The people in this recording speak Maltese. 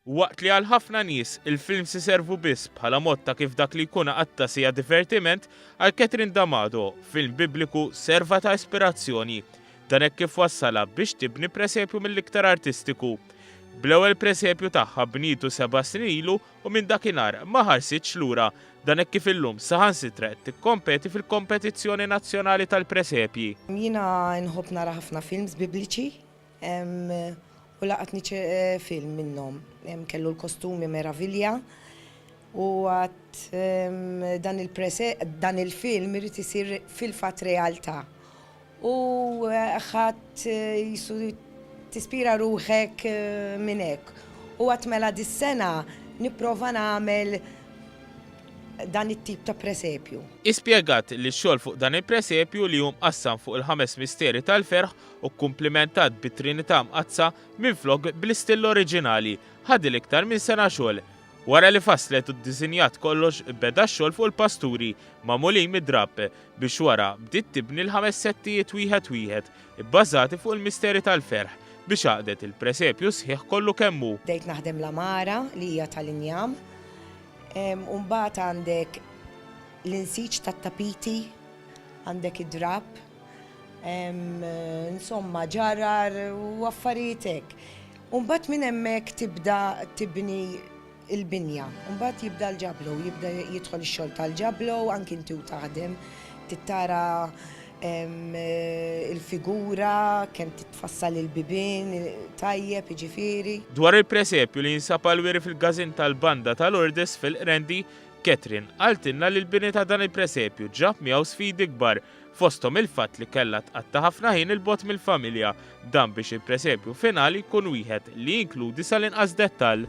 Waqt li għal ħafna nies, il-films iservu biss bħala mod ta' kif dak li jkun għatta sija divertiment, għal Catherine D'Amato, film bibliku serva ta' ispirazzjoni. Dan hekk kif wassala biex tibni presepju mill-iktar artistiku. Bl-ewwel presepju tagħha bnietu seba' snin ilu u minn dakinhar ma ħarsitx lura. Dan hekk kif illum saħansitra qed tikkompeti fil-kompetizzjoni nazzjonali tal-presepji. Jiena nħobb nara ħafna films Bibliċi u laqatni film minnhom. Kellu l-kostumi meravilja u għadt dan il-film irid isir fil-fatt realtà. U ħadd jisu tispira ruħek minn hekk. U għat mela dis-sena nipprova nagħmel dan it-tip ta' presepju. Hi spjegat li x-xogħol fuq dan il-presepju li hu mqassam fuq il-ħames misteri tal-ferħ u kkumplimentat bit-Trinità Mqaddsa minflok bl-istill oriġinali, ħadilha iktar minn sena xogħol. Wara li fasslet u ddisinjat kollox, beda x-xogħol fuq il-pasturi magħmulin mid-drapp biex wara bdiet tibni l-ħames settijiet wieħed wieħed ibbażati fuq il-misteri tal-ferħ biex għaqdet il-presepju sħiħ kollu kemm hu. Bdejt naħdem l-għamara li hija tal-injam u mbagħad għandek l-insiġ tat-tapiti, għandek id-drapp. Hemm insomma ġarar u affarijiet hekk. U mbagħad minn hemmhekk tibda tibni il-binja. U mbagħad jibda l-ġablo, jibda jidħol ix-xogħol tal-ġablo, anki inti u taħdem, tittara il-figura, kemm titfassal il-bibien tajjeb, jiġifieri. Dwar il-presepju li jinsab għall-wiri fil-każin tal-Banda ta' Lourdes fil-Qrendi, Catherine qaltilna li l-bini ta' dan il-presepju ġab miegħu sfidi kbar fosthom il-fatt li kellha tqatta' ħafna ħin 'il bogħod mill-familja, dan biex il-presepju finali jkun wieħed li jinkludi sal-inqas dettall.